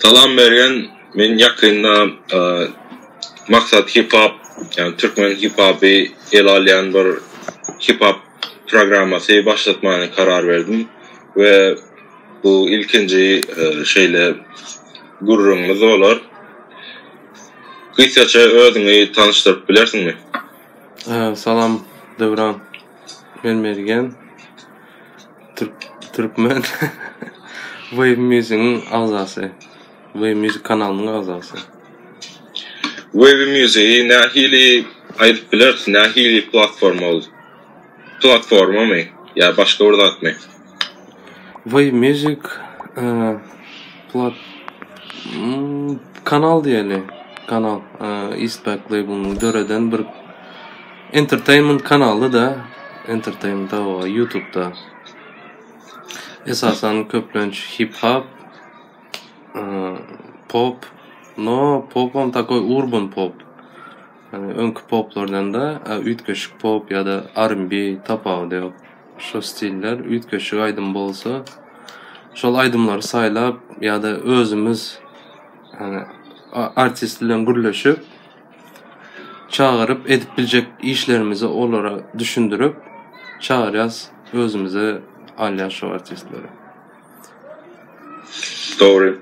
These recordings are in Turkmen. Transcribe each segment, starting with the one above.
Salam Mergen men ýakynda Maksat Hip Hop ýagny Türkmen Hip Hopy ele alýan bir Hip Hop programmasy başlatmany karar berdim we bu ilkinji şeýle gürrüňimiz bolar. Gysgaça özüňi tanyşdyryp bilersiňmi? Salam Döwran men Mergen. Türkmen Wave Music-iň agzasy. Wave Music kanalynyň agzasy. Wave Music-i nähili aýdyp bileris? Nähili platforma ol? Platformamy ýa başga bir zatmy? Wave Music plat kanal diýeli. Kanal Eastpak label-ynyň döreden bir Entertainment kanaly da Entertainment awa youtubda esasan köplenç hip hop pop no popam takoý urban pop yani öňki poplardan da üýtgeşik pop ya da rnb tapawudy ýok şo stiller üýtgeşik aýdym bolsa şol aýdymlary saýlap ya da özümiz yani artist bilen gürleşip Çagyryp edip biljek işlerimizi olara düşündirip çagyrýas özümize alýas şo artistleri. Dogry.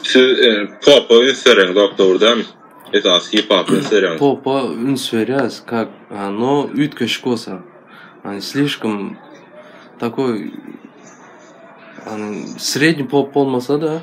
Siz popa üns bereň doktor dämi? Esas hip hop üns bereň. Popa üns berýäs kak no üýtgeşik bolsa. Hani slişkim takoý hani sredni pop bolmasa da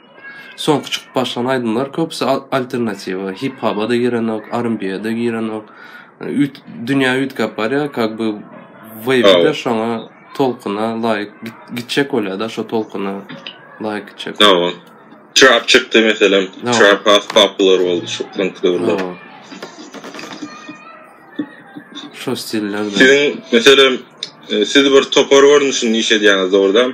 Soňky çykyp başlan aýdymlar köpüsi alternatiwa, hip-hapa-da girenok, R&B-ýa-da girenok. Üýt dünýä üýtgäp barýar, kak by weýp-de şoňa tolkuna laýyk gitjek bolýar-da, şo tolkuna laýyk gitjek. Hawa. Trap çykdy meselem, trap has popular boldy soňky döwürler. Şo stiller. Siziň meselem, siz bir topar görnüşinde iş edýäňiz, dogrudanam?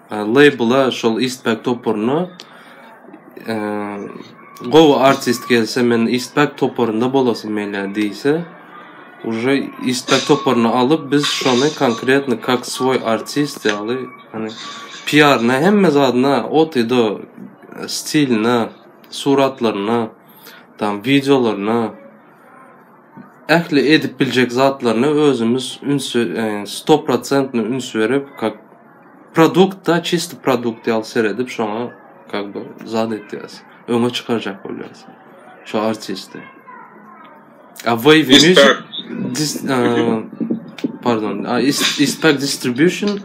Labela şol Eastpak toparyna gowy artist gelse men Eastpak toparynda bolasym gelýär diýse уже Eastpak toparyny alyp biz şony konkretno kak swoý artist ýaly hani PR-na hemme zadyna ot i do stiline suratlaryna tam wideolaryna ähli edip biljek zatlaryna özümiz üns sto prosentno üns berip kak Produktda çysto produkt ýaly seredip şoňa kak by zat etýas. Öňe çykarjak bolýas. Şo artisti. A way vision dis pardon, a ispek distribution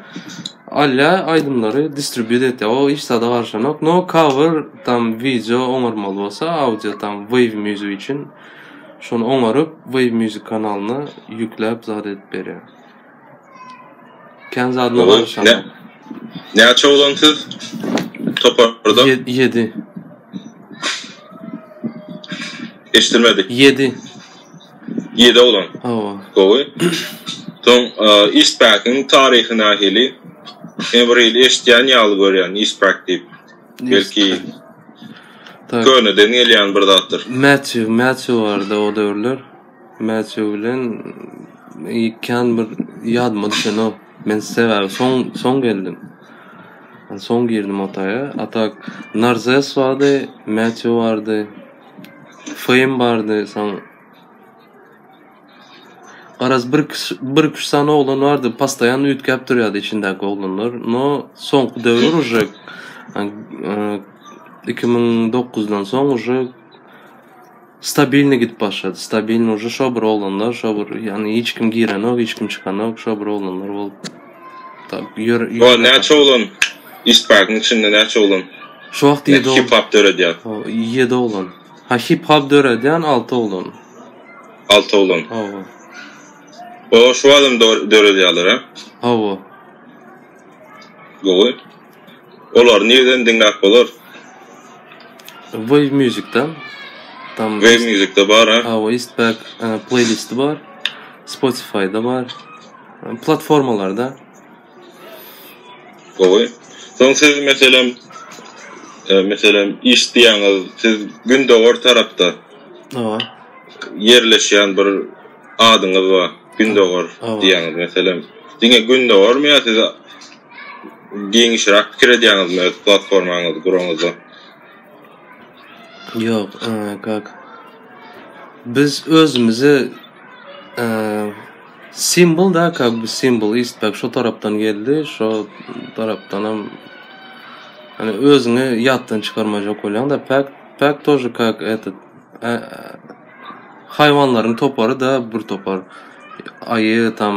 alýa aýdymlary distribýut etýä. O hiç zada garşanok. No cover tam wideo oňarmaly bolsa, audio tam wave music üçin şony oňaryp wave music kanalyna ýükläp zat edip berýä. Kän zadyna Ogun, barşam. ne? Näçe oglan siz? Toparda Ýe- Ýedi. eşitmedik. Ýedi. 7 oglan. Hawa. Gowy. Soň e, Eastpack-iň taryhy nähili? Men bir ýyl eşitýän ýaly görýän Eastpack diýip. Belki Tak. köneden gelýän bir zatdyr. Matthew, Matthew bardy o döwürler. Mätçe bilen ýekän bir ýadyma düşenok. Men sebäbi soň soň geldim. Soň girdim otaýa. A tak Narzes bardy, Mätçe bardy. Feým bardy, soň Garaz bir kişi, bir kişi sany oglan bardy, postoýan üýtgäp durýardy içindäki oglanlar. No, soňky döwür uje 2009-dan soň uje Stabilny gidip başlady. Stabilny uje şo bir oglanlar, şo bir ýany hiç kim girenok, hiç kim çykanok, şo bir oglanlar bolup. Tab ýör. O näçe oglan? Isparkyň içinde näçe oglan? Şo wagt ýedi oglan. Hip hop döredýär. O ýedi oglan. Ha hip hop döredýän alty oglan. Alty oglan. Hawa. O şu adam döredýärler, ha? Hawa. Gowy. Olary nireden diňläp bolar. Wave music da. Tam wave music da bar ha. Ha we istback playlisti bar. Spotify da bar. Platformalarda. Gowy. Soň siz meselem e, meselem iş diýäňiz, siz gündogar tarapda. Hawa. Ýerleşýän bir adyňyz bar. Gündogar diýäňiz meselem. Diňe gündogarmy ýa siz Giňişräk pikir edýäňizmi öz platformaňyzy guranyňyzda? Ýok, kak. Biz özümizi simwol da kak biz simwol istak şo tarapdan geldi, şo tarapdanam ýöne özüňi ýatdan çykarmajak bolýaň da päk päk tor kak eto. Haýwanlaryň topary-da bir topar. Aýy tam,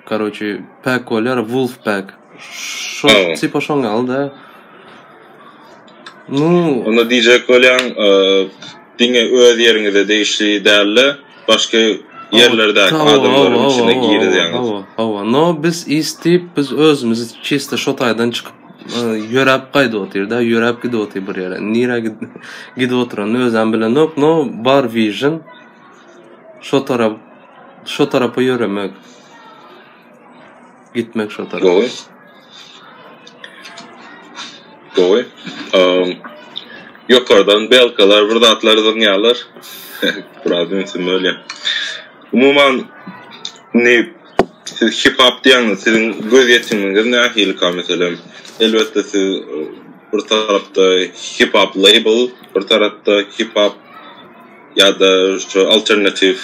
karoçi, pack bolýar, wolf pack. Şo, Aýwa. tipa şoň ýaly-da. Nu, Onda diýjek bolýan, e, diňe öz ýeriňize degişli däl-de, başga ýerlerdäki Hawa, adamlaryň hawa, içine hawa, girizýäňiz. hawa, hawa. No, biz is diýip, biz özümizi çista şo taýdan çykyp Ýöräp gaýdyp otyr-da, ýöräp gidip otyr bir ýere. Nirä gidip oturanyny özem bilenok, no bar vision. Şo tarap, şo tarapa ýöremek. Gitmek şo tarap. Gowy. Gowy. Um, ýokardan belkalar, bir zatlar zyňýarlar. Biraz ünsüm bölýär. Umuman, ne Siz hip-hop diýýäňiz, siziň gözýetiminiz nähilikä? Meselem, elbetde, siz bir tarapda hip-hop label, bir tarapda hip-hop ýa-da şu alternatiw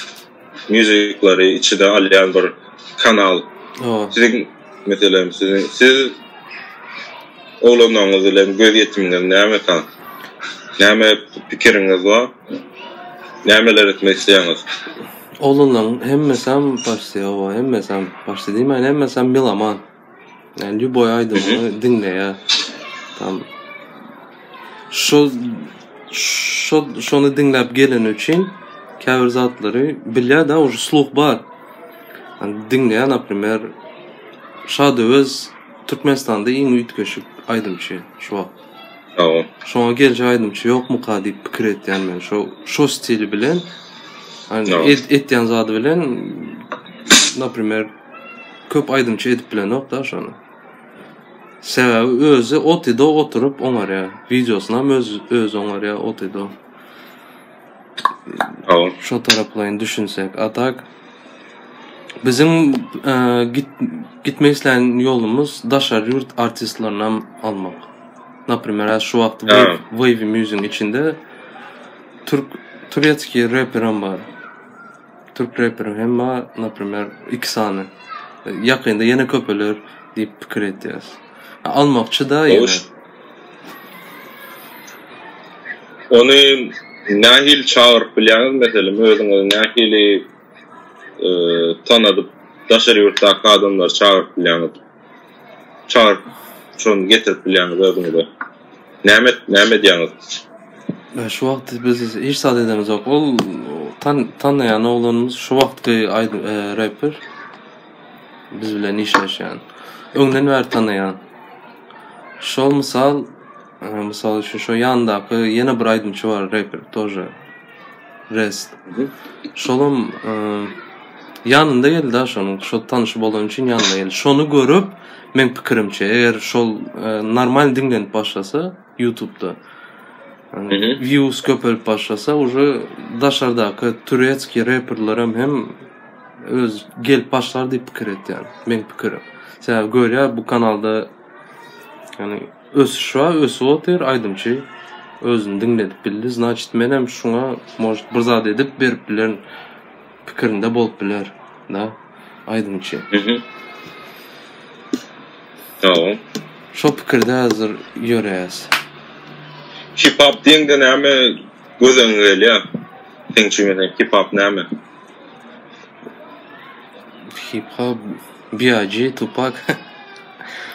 muzyklary içine alýan bir kanal. Siziň, meselem, siziň siz oglanyňyz bilen gözýetiminiz nämekä? Näme pikiriňiz bar? Nämeler etmek isleýäňiz? Oglanlaryň hemmesem başsy oba hemmesem başsy diýmäýin hemmesem meloman. Yani ljuboý aýdymyny diňleýä. Tam şo şo şony diňläp geleni üçin käbir zatlary bilýä da uje sluh bar. Yani diňleýä naprimer Şadöwez Türkmenistanda iň üýtgeşik aýdymçy şu wagt. Sagbol. Şoňa geljek aýdymçy ýokmyka diýip pikir etýän men şo şo stili bilen etýän zady bilen naprimer köp aýdymçy edip bilenok da şony. Sebäbi özi otyda oturyp oňarýar. Wideosyny hem öz öz oňarýar otyda. Şo taraplaýyn düşünsek. A tak biziň gitmek islän ýolumyz daşary ýurt artistlerini hem almak. Naprimer, häzir şu wagt Wavy Music-iň içinde türk turetskiý reper hem bar. Türk reperi hem bar naprimer iki sany. Ýakynda ýene köpeler diýip pikir etýäs. Almakçy da ýene. Ony nähili çagyryp bilýäňiz meselem özüňizi nähili tanadyp daşary ýurtdaky adamlary çagyryp bilýäňiz. Çar şony getirip bilýäňiz özüňize. Näme et, näme edýäňiz? Ýa şu wagt biz hiç zat edemizok. Ol tan tanýan oglanymyz şu wagtky aýdym e, reper. Biz bilen işleşýän. Öňden bäri tanýan. Şol mysal, e, mysal üçin şu ýandaky ýene bir aýdymçy bar reper, tože. Rest. Şolam ýanynda geldi-ä şonuň. Şol tanyşy bolany üçin ýanyna geldi. Şony görüp, meň pikirimçe, eger şol normal diňlenip başlasa Ýutubda, wiýus köpelip başlasa, uje daşardaky turetskiý reperlerem hem öz gelip başlar diýip pikir etýän. Meň pikirim. Sebäbi görýär bu kanalda ýagny Ösüşa ösüp otyr aýdymçy özüni diňledip bildi znaçit menem şuňa может bir zat edip berip bilerin pikirinde bolup biler da aýdymçy. Şo pikirde hazir ýöreýäs. Hip hop diýeňde näme göz öňüňe gelýär? Seň üçin hip hop näme? Hip hop. BIG Tupak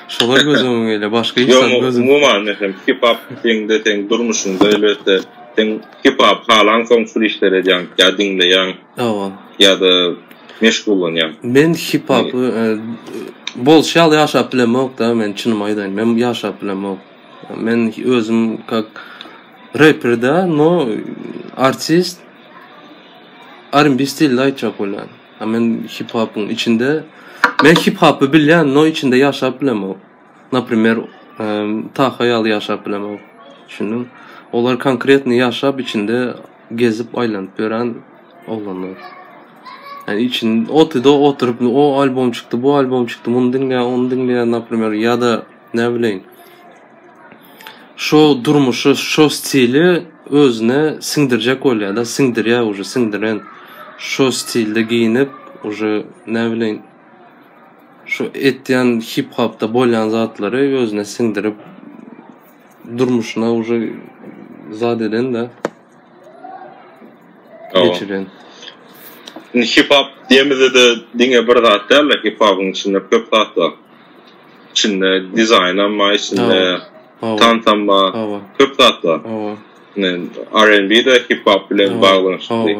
Şolar göz öňüňe gelýär, başga hiç zat göz öňüňe gelmir. Ýok, umuman, hip-hop diýende seň durmuşyňda elbetde, seň hip-hop halansoň şul işleri edýäň, ýa diňleýäň, Hawa. ýa-da meşgullanýaň. Men hip-hopy bolşy ýaly ýaşap bilemok-da, men çynymy aýdaýyn, men ýaşap bilemok. Men özüm kak reper-de, no artist, R&B stilde aýtjak bolýan. A men hip hopyň içinde men hip hopy bilýän, no içinde ýaşap bilemok. Naprimer, Taha ýaly ýaşap bilemok. Düşündiň? Olar konkretny ýaşap içinde gezip aýlanyp ýören oglanlar. Yani için otyda oturup o albom çykdy, bu albom çykdy, muny diňle, ony diňle, naprimer, ýa-da Näbileýin. Şo durmuşy, şo stili özüne siňdirjek bolýar-da, siňdirýär uje, siňdiren. Şo stilde geýinip, uje, näbileýin, şu etýän hip-hopda bolýan zatlary özüne siňdirip, durmuşyna uje zat eden-de. Hawa. Geçiren. Indi hip-hop diýemizde-de diňe bir zat däl-de, hip-hopyň içinde köp zat bar. içinde dizaýnam bar, içinde tansam bar, köp zat bar. R&B-de hip-hop bilen baglanyşykly.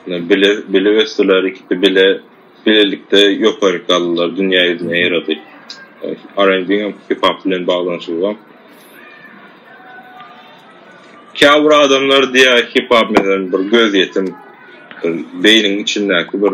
Bile, bile ösdüler, ikisi bile, bilelikde ýokary galdylar, dünýä ýüzüne ýeredi. R&B-ňem hip-hop bilen baglanyşygy bar. Käbir adamlar diýýär, hip-hop, meselem, bir gözýetim, beýniň içindäki bir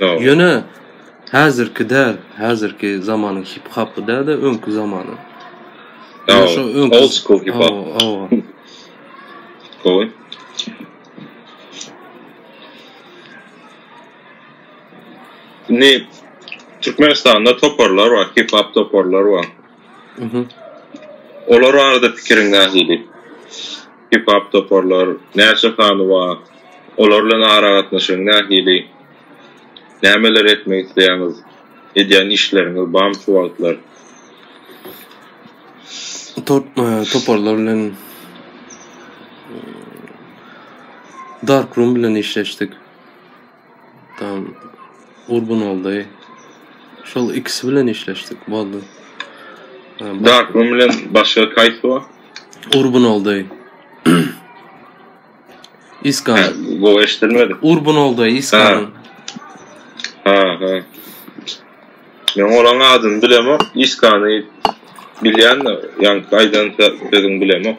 Ýöne häzirki däl, häzirki zamanyň hip hapy däde öňki zamanyň. Ýöne şo öňki old school hip hop. Hawa. Gowy. Ne Türkmenistanda toparlar bar, hip hop toparlar bar. Mhm. Olar arada pikiriň nähili? Hip-hop toparlar näçe sany bar? Olar bilen aragatnaşygyň nähili? Nämeler etmek isleýäňiz? Edýän işleriňiz barmy şu wagtlar? Toparlar bilen Darkroom bilen işleşdik. Tam Gurbanguldy. Şol ikisi bilen işleşdik. Boldy. Dark Room bilen başga kaýsy bar? Gurbanguldy. Iskan. Ha, bu eşitilmedi. Gurbanguldy Iskan. Ha, ha. Men oran adyny bilemok. Iskany bilýän, ýaňky aýdan sözüňi bilemok.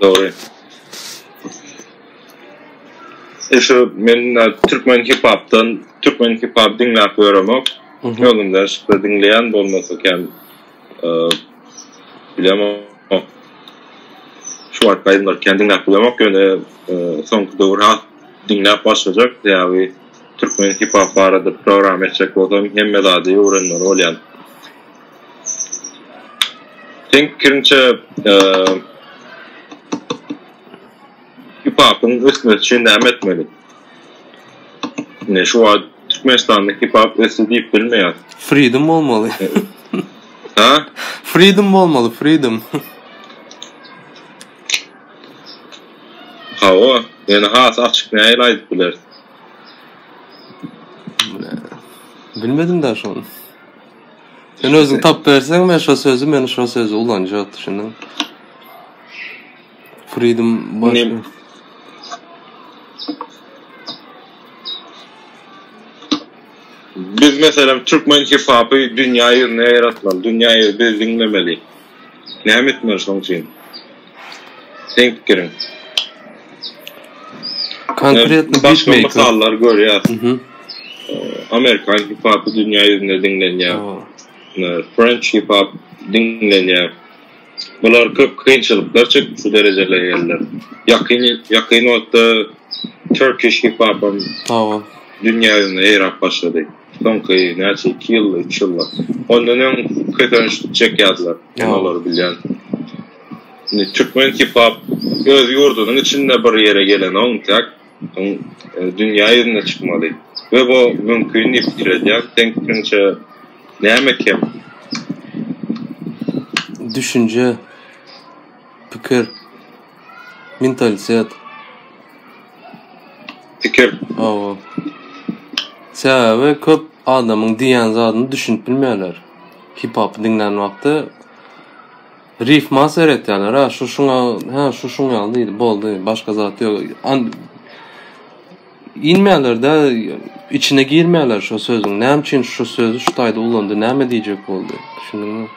Dogry. E şu men türkmen hip-hopdan, türkmen hip-hop diňläp ýöremok. Özümden şypda diňleýän bolmasa kem e, bilemok. Şu wagt aýdymlar kän diňläp bilemok, ýöne e, soňky döwür has diňläp başlajak. Sebäbi türkmen hip-hop barada program etjek bolsam, hemme zady öwrenmeli bolýan. Seň pikiriňçe, hip-hopyň ösmesi üçin näme etmeli? Ne şu wagt Türkmenistanda hip-hop ösdi diýip bilmeýär. Freedom bolmaly. Ha? Freedom bolmaly, freedom. Hawa, ýöne has açyk nähili aýdyp bileris? Bilmedim-dä şony. Sen özüň tap berseň men şo sözi men şo sözi ulanjak düşündin. Freedom baş. Ne? Biz meselem türkmen hip hopy dünýä ýüzüne ýaratmaly, dünýä biz diňlemeli. Näme etmeli şoň üçin? Seň pikiriň? Konkretno başga mysallar görýäs. Amerikan hip-hopy dünýä ýüzünde diňlenýär. French hip-hop diňlenýär. Bular köp kynçylyklar çekip şu derejelere geldiler. Ýakyn ýakyn wagtda Turkish hip-hopam dünýä ýüzünde ýaýrap başlady. Soňky näçe iki ýyl, üç ýyl bor. Ondan öň kösenç çekýärdiler. Men olary bilýän. Indi türkmen hip-hop öz ýurdunyň içinde bir ýere gelenoň, täk soň e, dünýä ýüzüne çykmaly. We bu mümkin diýip pikir edýän. Seň pikiriňçe näme kem? Düşünje, pikir. Mentalitet. Pikir. Awa. Sebäbi köp adamyň diýen zadyny düşünip bilmeýärler. Hip-hop diňlän wagty rif mas seretýärler. Ha, şu şuňa, ha, şu şuň ýaly diýdi, boldy, başga zat ýok. An inmeýärler de, içine girmeýärler şu sözüň. Näme üçin şu sözi şu taýda ulandy, näme diýjek boldy? Düşündiňmi?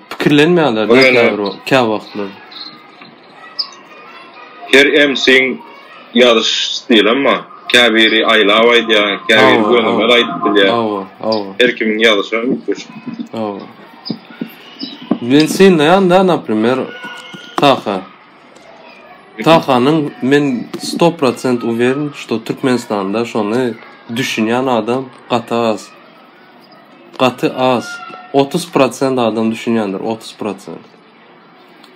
Pikirlenmeýärler Bu ýene- käbir wagt- kä wagtlar. Her MC-iň ýazyş stilim bar. Käbiri aýlap aýdýar, käbiri Hawa, gönümel hawa. aýdyp bilýär. Hawa, hawa, Her kimiň ýazyşy üýtgeşik. hawa. Men synlaýan-da, naprimer, Taha. Tahanyň men sto prosent uweren, şto Türkmenistanda şony düşünýän adam gaty az. Gaty az. Otuz prosent adam düşünýändir, otuz prosent.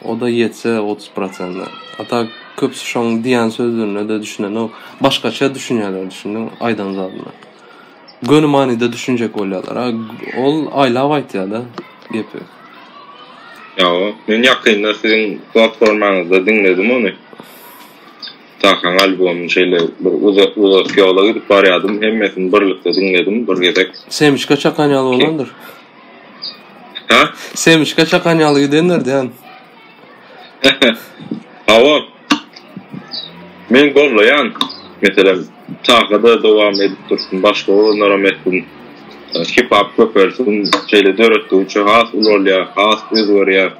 O da ýetse otuz prosent. A tak köpüsi şoň diýen sözlerine-de düşünenok. Başgaça düşünýärler, düşündiň, aýdan zadyna. Göni manyda düşünjek bolýarlar. A ol aýlap aýtýar-da gepi. Ýa, men ýakynda siziň platformaňyzda diňledim ony. Tahaň albomyny şeýle bir uzak ýola gidip barýadym, hemmesini birlikde diňledim bir gezek. Semçka çakan ýaly bolandyr. Ha? Semçka çakan ýaly gidendir diýen. Hawa. Men gollaýan, meselem, Tahada dowam edip dursun, başga olanlara metin hip-hop köpelsin, şeýle döretdi üçin has ulalýar, has özgerýär.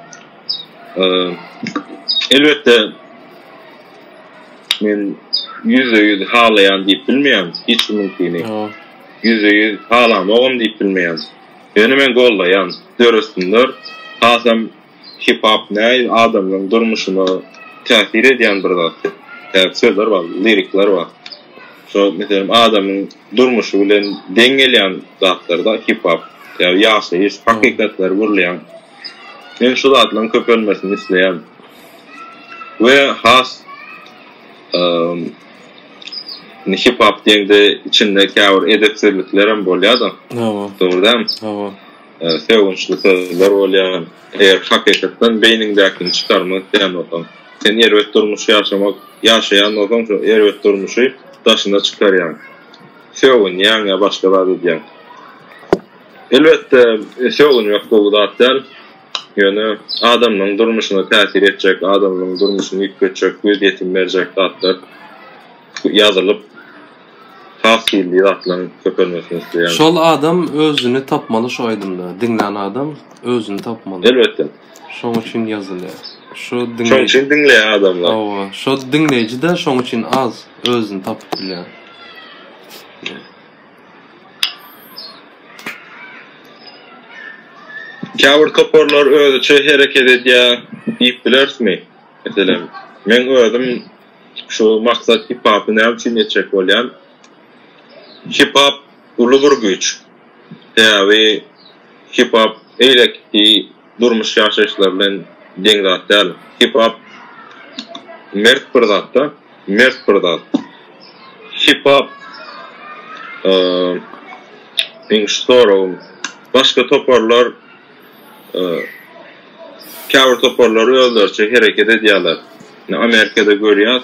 Elbetde, men ýüzde-ýüz halaýan diýip bilmeýän, hiç kimiňkini ýüzde-ýüz halamagam diýip bilmeýän. Ýöne men goldaýan, döresinler, hasam hip-hop näil adamlaryň durmuşyna täsir edýän bir zat. Käbir sözler bar, lirikler bar. Şo, meselem, adamyň durmuşy bilen deň gelýän zatlar-da hip-hop. Ýa-da ýaşaýyş hakykatlary gürleýän. Men şu zatlaryň köpelmesini isleýän we has indi hip hop diýende içinde käbir edepsizliklerem bolýada. Hawa. Dogry dämi? Hawa. Sögünçli sözler bolýar. Eger hakykatdan beýniňdäkini çykarmak isleýän bolsaň, sen erbet durmuş ýaşamak ýaşaýan bolsaň, şu erbet durmuşy daşyna çykarýaň. Sögünýäň ýa başga zat edýäň. Elbetde, sögünmek gowy zat däl. Ýöne adamlaryň durmuşyna täsir etjek, adamlaryň durmuşyny üýtgetjek, göz ýetim berjek zatlar ýazylyp, has hilli zatlaryň köpelmesini isleýärin. Şol adam özüni tapmaly şu aýdymda. Diňlän adam özüni tapmaly. Elbetde. Şoň üçin ýazylýar. Şu diňleýji. Şoň üçin diňleýär adamlar. Hawa, şo diňleýji-de şoň üçin az özüni tapyp bilýär. Käbir toparlar özüçe hereket edýär diýip bilerismi? Meselem, men özüm şu maksat hip-hopy näme üçin etjek bolýan? Hip-hop uly bir güýç. Sebäbi hip-hop eýlekki durmuş ýaşaýyşlary bilen deň zat däl. Hip-hop mert bir zatda, mert bir zat. Hip-hop meň şu soragym başga toparlar käbir toparlar özleriçe hereket edýärler. Indi Amerikada görýäs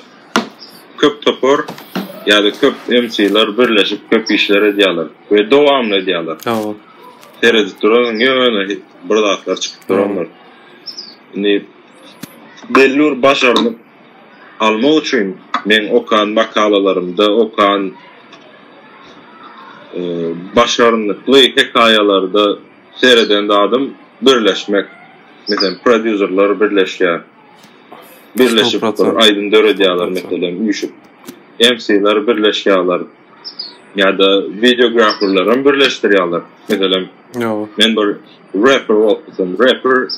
köp topar ýa-da köp MC-ler birleşip köp işler edýärler we dowamly edýärler. Seredip duralyň ýöne bir zatlar çykyp durandyr. Indi belli bir başarnyk almak üçin meň okan makalalarymda okan e, başarnykly hekaýalarda sereden zadym birleşmek. Meselem, prodýuserler birleşýär. Birleşip bir aýdym döredýärler meselem, üýşüp. MC-ler birleşýärler. ýa-da wideograferlerem birleşdirýärler. Meselem, men bir rapper bolsam, rapper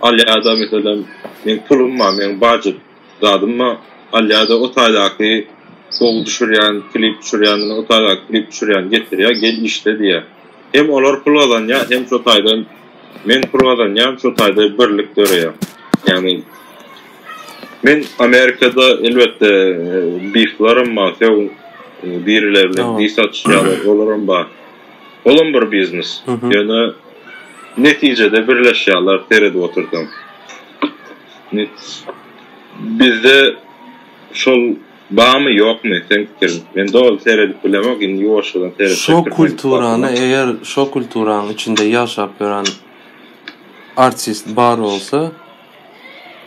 alýada meselem, men pulum bar, men budget zadym bar, alýada o taýdaky gowy düşürýän, klip düşürýän, o taýdaky klip düşürýän getirýär, gel işle diýýär. Hem olar pul gazanýar, hem şo taýdan Men pul gazanýan şu taýda birlik döreýär. Ýagny men Amerikada elbetde biflaram bar, söw biriler bilen bif satyşýarlar, olaram bar. Olam bir biznes. Ýöne netijede birleşýärler seredip otursaň. Bizde şol Bamy ýokmy seň pikiriň. Men doly seredip bilemok indi ýuwaşjadan seretsek Şo türkmen kulturany kitabyna. eger şo kulturanyň içinde ýaşap ýören artist bar bolsa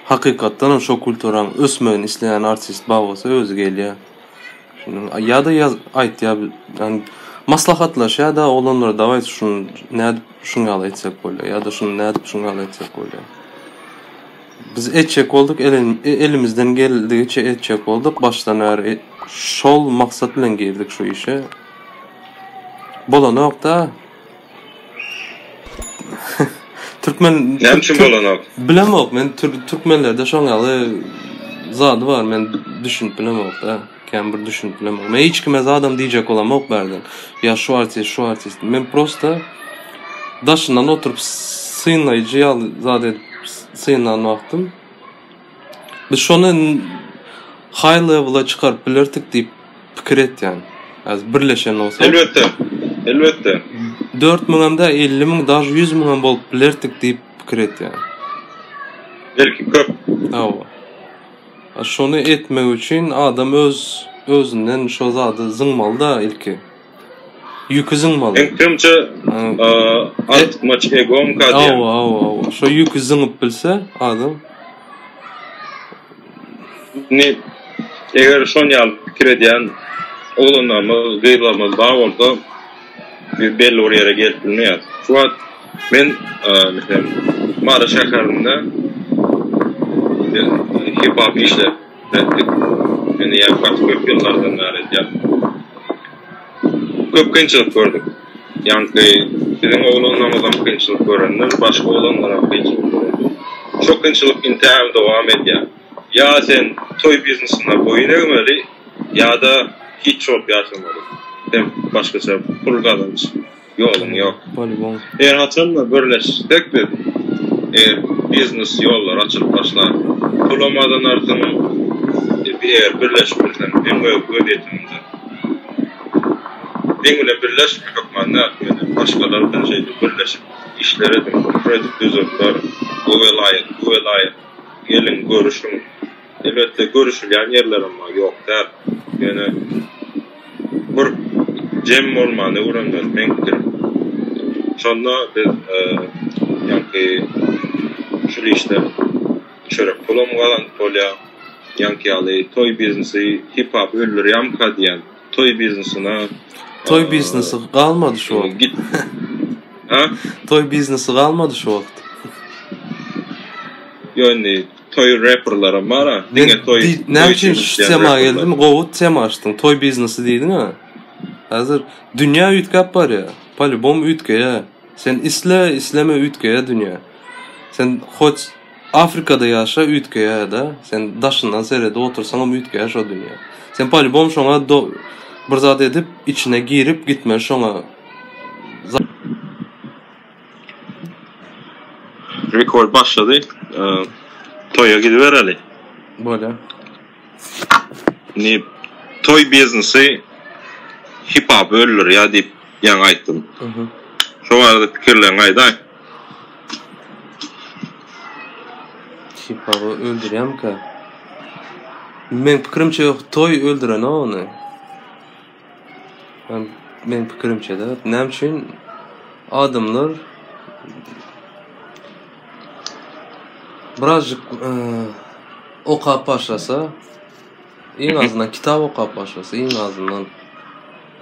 hakykatdan hem şo kulturaň ösmegini isleýän artist bar bolsa özi gelýär. Düşündiň? A ýa-da ýaz aýtýar bi ýani maslahatlaşýar da oglanlar dawaý şuny nädip şuny ýaly etsek bolýar ýa-da şuny nädip şuny ýaly etsek bolýar. Biz etjek bolduk, elimizden geldigiçe etjek bolduk. Başdan bäri şol maksat bilen girdik şu işe. Bolanok-da. Türkmen Näme üçin bolanok? Bilemok men türkmenlerde şoň ýaly zady bar men düşünip bilemok da. Kän bir düşünip bilemok. Men hiç kime zadam diýjek bolamok bärden. Ýa şu artist, şu artist. Men prosta daşyndan oturyp synlaýjy ýaly zat edip synlan wagtym. Biz şony high levela çykaryp bilerdik diýip pikir etýän. Az birleşen bolsa. Elbetde. Elbetde. 4000 hem de 50000, daş 100000 hem bolup bilerdik diýip pikir etýän. Belki köp. Hawa. Şony etmek üçin adam öz özünden şo zady zyňmaly da ilki. Ýüki zyňmaly. Meňkemçe artykmaç egomy ka diýýäň. Hawa hawa hawa şo ýüki zyňyp bilse adam. Indi eger şon ýaly pikir edýän oglanlarymyz gyzlarymyz bar bolsa Biz belli bir ýere gelip bilmeýäris. Şu wagt men meselem Mary şäherinde biz hip-hop işläp etdik. Indi ýa gaty köp ýyllardan bäri edýäris. Köp kynçylyk gördük. Ýaňky biziň oglanlarymyzam kynçylyk görendir, başga oglanlaram kynçylyk görendir. Şo kynçylyk intägem dowam edýär. Ýa sen toý biznesine boýun egmeli, ýa-da hiç bolup ýaşamaly. Hem başgaça pul gazanç ýoluň ýok. Polybom. Her haçanda birleşsek biz, eger biznes ýollar açylyp başlar. Pulam gazanarsyň, eger birleşip bilseň, hem öz wezýetiňde. Meň bilen birleşme hökman däl, ýöne başgalar bilen şeýdip birleşip işler ediň, kredit düzüp ber, bu welaýat, bu welaýat. Geliň, görüşiň. Elbetde, görüşilýän ýerlerem bar, ýok däl. Ýöne bir jem bolmany öwrenmeli meň pikirim. Şonda biz ýaňky şul işden çörek pulam gazanyp bolýar. Ýaňky ýaly toý biznesi, hip-hop öldürýärmika diýýän. Toý biznesine. Toý biznesi galmady şu wagt. Git. Ha? Toý biznesi galmady şu wagt. Ýöne toý reperlere mara. Diňe toý. Näme üçin şu tema geldim? Gowy tema açdyň. Toý biznesi diýdiň ha. Hazır dünýä üýtgäp barýar. Polibom üýtgeýär. Sen isle, isleme üýtgeýär dünýä. Sen hoç Afrikada ýaşa üýtgeýärda sen daşyndan seredip otursaňam üýtgeýär şo dünýä sen polibom şoňa bir zat edip içine girip gitmeli şoňa. Rekord başlady toýa gidibereli. Bolýa. Indi toý biznesi hip hop öldürýär diýip ýaňy aýtdym. Şo barada pikirleriňi aýdaý. Şypaby öldürýämka. Men pikirimçe toý öldüren ony. Men men pikirimçe de näme üçin adamlar birazjyk e, okap başlasa iň azyndan kitap okap başlasa iň azyndan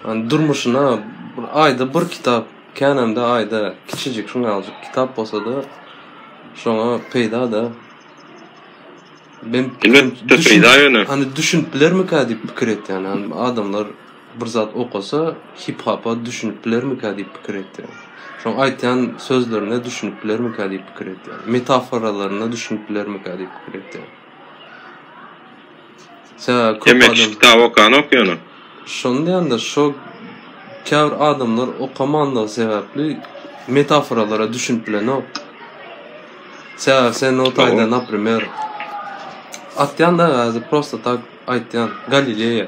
yani durmuşuna bir ayda bir kitap Känende aýda kiçijik şuňňaljyk kitap bolsa-da, şoňa peýda-da. Men Elbetde peýda ýöne. Hany düşünip bilermikä diýip pikir etýän. Hany adamlar bir zat okasa, hip-hapa düşünip bilermikä diýip pikir etýän. Şoň aýtýan sözlerine düşünip bilermikä diýip pikir etýän. Metaforalaryna düşünip bilermikä diýip pikir etýän. Demek, kitap okanok ýöne. Şony diýende, şo käbir adamlar okamandygy sebäpli metaforalara düşünip bilenok. Sebäbi sen o taýda, naprimer, atýan-da azy prosta tak aýtýan, Galileýa.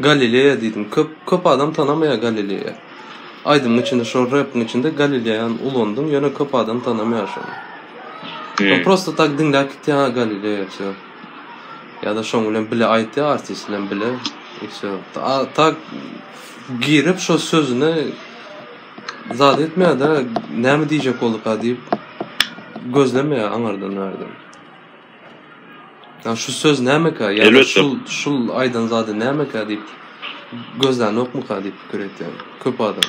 Galileýa diýdim. Köp, köp adam tanamaýar Galileýa. Aýdymyň içinde, şo repiň içinde Galileýany ulandyň, ýöne köp adam tanamaýar şony. Prosta tak diňläp gitýän Galileýa, wsýo. Ýa-da şoň bilen bile aýtýar, artist bilen bile. I wsё. A tak girip şo sözüne zat etmeýär-de, näme diýjek bolduka diýip gözlemeýär aňardan bärden. Ýa şu söz nämeka, ýa-da Elbetde. şul şul aýdan zady nämeka diýip gözlänokmuka diýip pikir etýär köp adam.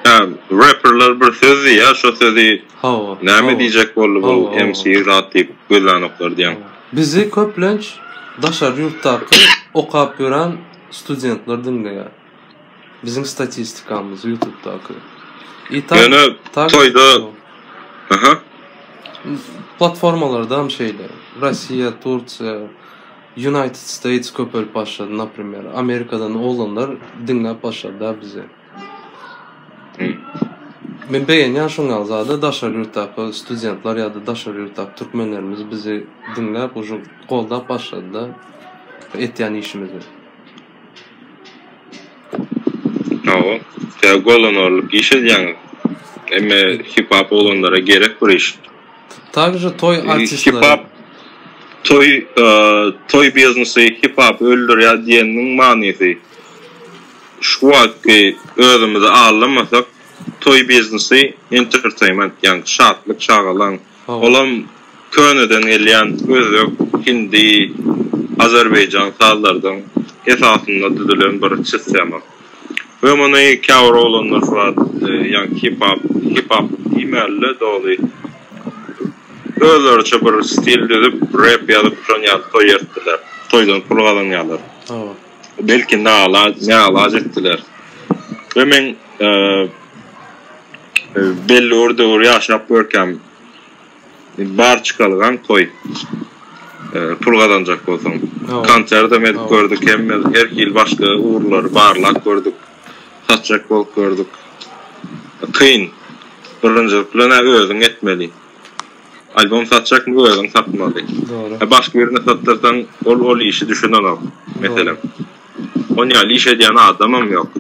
Hä reperler bir söz diýýä şo sözi Hawa. Näme diýjek boldy bu MC zat diýip gözlänoklar diýýäň. Bizi köplenç daşary ýurtdaky okap ýören studentler diňleýär. Biziň statistikamyz ýutubdaky. I tak Ýöne tak toýda Aha. platformalardam şeýle. Russiýa, Tursiýa, United States köpelip başlady naprimer Amerikadan oglanlar diňläp başlady da bizi. Men begenýän şoň ýaly zada daşary ýurtdaky studentler ýa-da daşary ýurtdaky türkmenlerimiz bizi diňläp uju goldap başlady da etýän işimizi. Hawa, tä goldan orlup iş edýäňiz. Emme hip-hop oglanlara gerek bir iş. Также toý artistleri. Hip-hop toý toý biznesi hip-hop öldürýär diýeniniň manysy. Şu wagtky özümizi aldamasak, toý biznesi entertainment, ýagny şatlyk, şagalaň. Olam köneden gelýän özbek, hindi, azerbaýjan sazlardan esasynda düzülen bir çystema. We muny käbir oglanlar flat, ýagny hip-hop, hip-hop diýmäli-de doly, özleriçe bir stil düzüp, rep ýazyp şony ýaly toý ertdiler. Toýdan pul gazanýarlar. belki nalaç etdiler. Ve men e, belli bir döwür ýaşap görkem bar çykalgan koy e, pul gazanjak bolsaň. Konsert hem edip gördük, hem her hil başga ugrulary barlap gördük. Satjak bolup gördük. Kyn. Birinjilik bilen özüň etmeli. Albom satjak mü özüň satmaly. Dogry. He başga birine satdyrsaň ol ol işi düşünenok meselem. On ýaly iş edýän adamam ýok.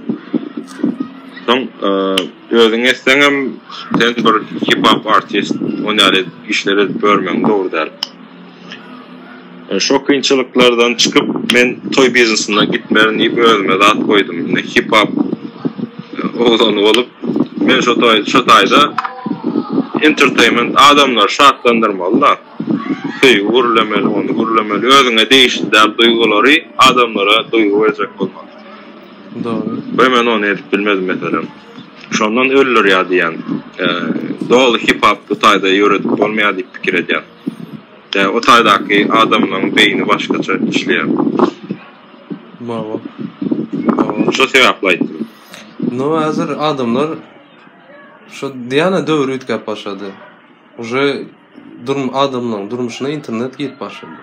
Soň özüň etseňem sen bir hip hop artist on ýaly işler edip ýörmegiň dogry däl. Şo kynçylyklardan çykyp men toý biznesine gitmerin diýip özüme zat goýdum. Indi hip-hop oglany bolup men şo toý şo taýda entertainment adamlary şatlandyrmaly-da. Söýgi gürlemeli, ony gürlemeli, özüňe degişli däl duýgulary adamlara duýgy berjek bolmaly. Dogry. We men ony edip bilmedim meselem. Şondan öldürýär diýýän. Doly hip-hop bu taýda ýöredip bolmaýar diýip pikir edýän. O taýdaky adamlaň beýni başgaça işleýär. Mawa. Mawa. Şo sebäpli aýtdym. No häzir adamlar şo diýana döwür üýtgäp başlady. Uje durm adamlaň durmuşyna internet girip başlady.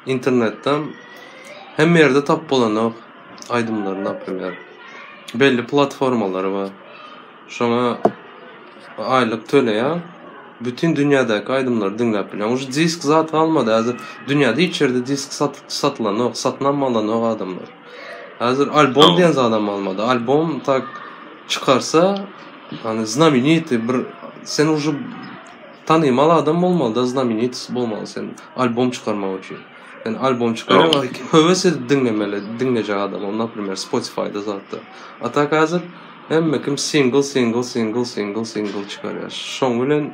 Internetden hemme ýerde tapyp bolanok aýdymlary naprimer. Belli platformalary bar. Şoňa aýlyk töleýäň. Bütin dünýädäki aýdymlary diňläp bilýäň. Uje disk zat galmady häzir. Dünýäde hiç ýerde disk sat satylanok, satynam alanok adamlar. Häzir albom diýen zadam galmady. Albom tak çykarsa, ýani znamenitý bir sen uje tanymal adam bolmaly-da, znamenitost bolmaly sen albom çykarmak üçin. Sen albom çykarýaň, höwes edip diňlemeli, diňlejek adam, naprimýer, Spotify-da zatda. A tak häzir Hemme kim singl singl singl singl singl çykarýar. Şoň bilen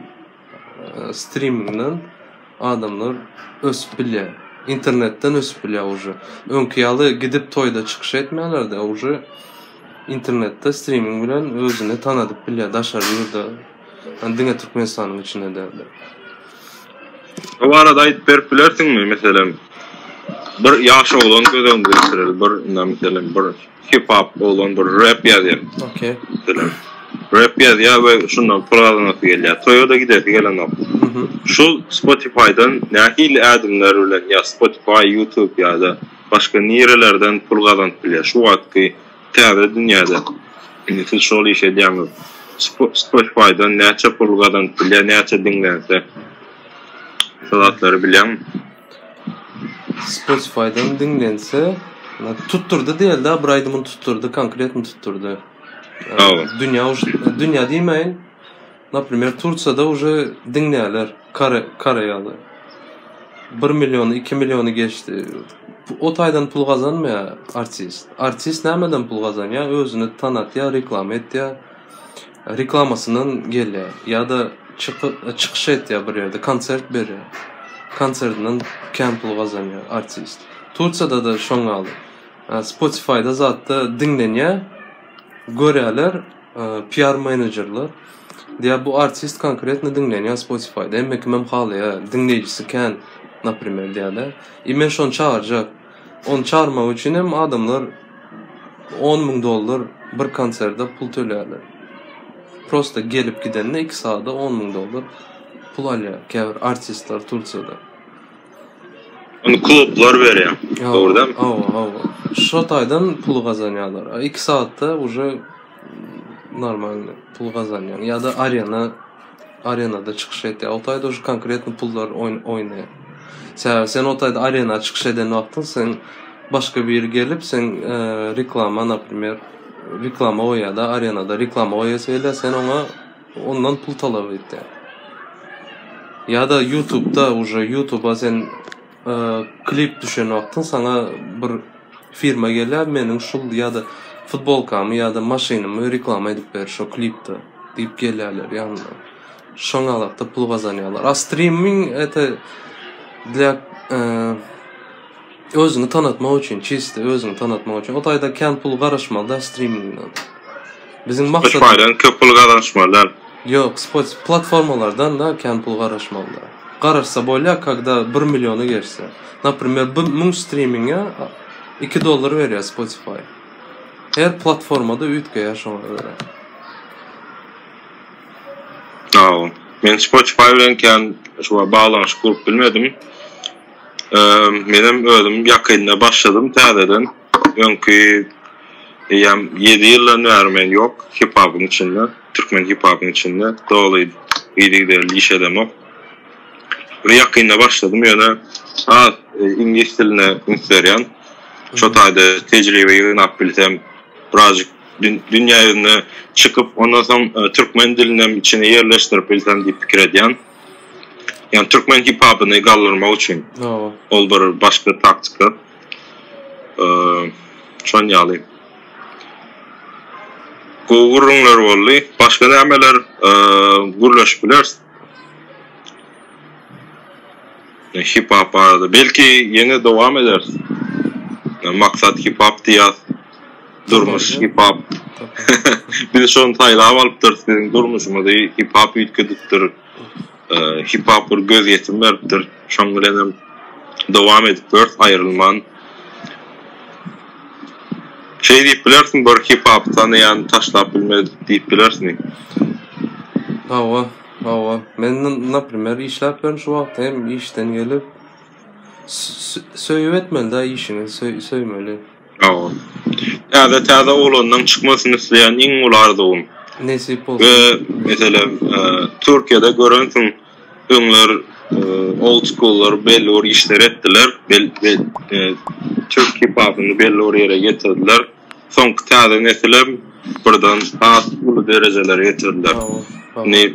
streamingden adamlar ösüp bilýär. Internetden ösüp bilýär uje. Öňki ýaly gidip toýda çykyş etmeýärler-de, uje internetde streaming bilen özüni tanadyp bilýär daşary ýurda. Ýani diňe Türkmenistanyň içinde däl-de. Bu barada aýdyp berip bilersiňmi? Meselem, bir ýaş oglan göz öňüne getireli, bir, meselem, bir Hip hop oglan bir rap ýazýar. Okey. Rap ýazýar we şundan pul gazanasy gelýär. Toýa da gidesi gelenok. Şu Spotify-dan nähili ädimler bilen ýa Spotify, YouTube ýa-da başga nirelerden pul gazanyp bilýär? Şu wagtky täze dünýäde indi siz şol işi edýäňiz. Spotify-dan näçe pul gazanyp bilýär, näçe diňlense? Şo zatlary bilýäňmi? Spotify-dan diňlense, tutdurdy diýeli-de, bir aýdymyny tutdurdy, konkretno tutdurdy. Dünýä, dünýä diýmäýin. Naprimýer, Tursiýada uje diňleýärler, kore, koreýaly. 1 million, 2 milliony geçdi. O taýdan pul gazanmaýar artist. Artist nämeden pul gazanýar? Özüni tanatýar, reklama etýär. Reklamasyndan gelýär ýa-da çykyş etýär bir ýerde, konsert berýär. Konsertinden kän pul gazanýar artist. Tursiýada-da şoň ýaly. Spotify-da zatda diňlenýär. Görýärler PR menejerler. Diýýär bu artist konkretno diňlenýär Spotify-da. Hemme kimem halaýar. Diňleýjisi kän, naprimer diýýärler. I men şony çagyrjak. Ony çagyrmak üçin hem adamlar on müň dollar bir konserde pul töleýärler. Prosta gelip gidende iki sada on müň dollar pul alýar käbir artistler Tursiýada. Ony klublar berýär. Dogry däl. Hawa, hawa. Şo taýdan pul gazanýarlar. A iki saatda uje normalny pul gazanýaň ýa-da arena arenada çykyş etýär. O taýda şu konkretny pullar oýn oýnaýar. Sebäbi sen o taýda arena çykyş eden wagtyň sen başga biri gelip sen e, reklama naprimýer reklama goýýar-da arenada reklama goýasy gelýär sen oňa ondan pul talap etýär. Ýa-da YouTube-da uje YouTube-a sen klip düşen wagtyň saňa bir firma gelýär meniň şul ýa-da futbolkamy ýa-da maşynymy reklama edip ber şo klipde diýip gelýärler ýanyna. Şoň alakda pul gazanýarlar. A streaming ete для e, özüňi tanatmak üçin, çiste özüňi tanatmak üçin. O taýda kän pul garaşmaly da streamingden. Biziň maksat Spotify'dan köp pul gazanyşmaly däl. Ýok spotify platformalardan da kän pul garaşmaly däl. Garaşsa bolýar kagda bir milliona geçse. Naprimer bir müň strimingä iki dollar berýär spotify. Her platformada üýtgeýär şoňa görä. Sagbol. Men spotify bilen kän şuwa baglanyşyk gurup bilmedim. Eee menem özüm ýakynda başladym täzeden. Öňki eýýäm ýedi ýyldan bäri men ýok hip-hopyň içinde, türkmen hip-hopyň içinde doly yzygiderli iş edemok. Bir ýakynda başladym, ýöne az iňlis diline üns berýän. Şo taýda tejribe ýygnap bilsem, birazjyk dünýä ýüzüne çykyp, ondan soň türkmen dilinem içine ýerleşdirip bilsem diýip pikir edýän. Ýani türkmen hip-hopyny galdyrmak üçin. Ol bir başga taktika. Şon ýaly. Gowy gürrüňler boldy. Başga nämeler gürleşip bileris? Hip hop barada. Belki ýene dowam ederis. Maksat hip hop diýýär. Durmuş hip hop. Biz şony saýlap alypdyrys. Biziň durmuşymyzy hip hop üýtgedipdir. Hipapur gözýetim beripdir. Şoň bilen hem dowam edip bilersiň aýrylman. Şeý diýip bilersiň, bir hipapy tanaýan taşlap bilmedik diýip bilersiň. Hawa, hawa. Men naprimer işläp ýörün şu wagt hem işden gelip. Söýüp etmelidä işiňi, söýmeli. Sag bol. Täze täze oglanlaň çykmasyny isleýän iň uly arzuwym. Nesip bolsun. We meselem Türkiýede görensiň öňler old schoollar belli bir işler etdiler. Bel bel Türk hip hopyny belli bir ýere getirdiler. Soňky täze nesilem birden has uly derejelere getirdiler. Indi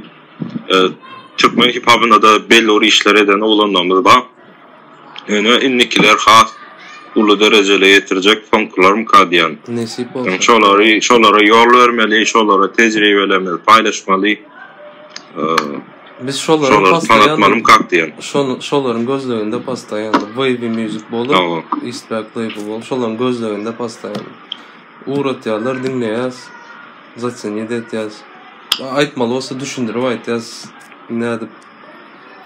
Türkmen hip hopynda da belli bir işler eden oglanlarymyz bar. Ene indikiler has uly derejele ýetirjek fonkularmyka diýen. Nesip bolsa. Şolary şolara ýol bermeli, şolara tejribelerimizi paýlaşmaly. Biz şolary şolary tanatmalymy kak diýen. Şol şolaryň gözleginde postaýan Wavy Music bolup, Eastpak Label bolup şolaryň gözleginde postaýan. Ugratýarlar diňleýäs. Zaçenýe de etýäs. Aýtmaly bolsa düşündirip aýtýas. Nädip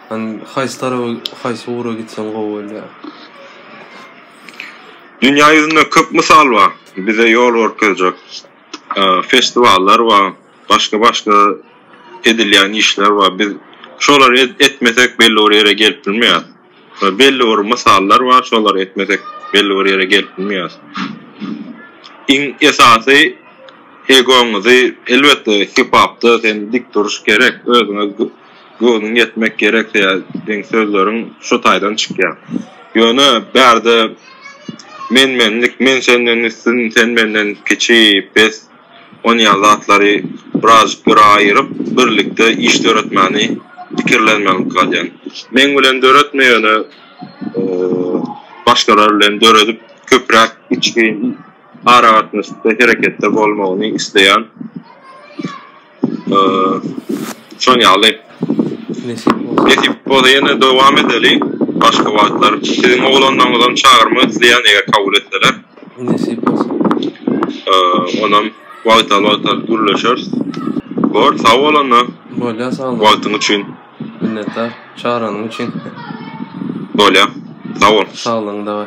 Hani haýsy tarawa haýsy ugra gitseň gowy bolýar. Dünýä ýüzünde köp mysal bar, bize ýol görkezjek festiwallar bar, başga başga edilýän işler bar, biz şolary etmesek belli bir ýere gelip bilmeýäris. We belli bir mysallar bar, şolary etmesek belli bir ýere gelip bilmeýäris. Iň esasy egoňyzy elbetde hip-hopda sen dik duruş gerek, özüňe göwnüň ýetmek gerek diýen sözleriň şu taýdan çykýar. Ýöne bärde men-menlik, men senden üstün, sen menden kiçi, pes, On ýaly zatlary birazjyk göre aýyryp, birlikde iş döretmäni pikirlenmelilik galýan. Meň bilen döretme ýöne başgalar bilen döredip köpräk içgin aragatnaşykda hereketde bolmagyny isleýän. Şon ýaly. Nesip bolsa. Nesip bolsa ýene dowam edeli. Başga wagtlar siziň oglanlaryňyzam çagyrmak isleýän eger kabul etseler. Nesip bolsa. Onam wagtal wagtal gürleşeris. Bor, sag bol onda. Bolýa sag bol. Wagtyň üçin. Minnetdar çagyranyň üçin. Bolýa. Sag bol. Saglygyňda.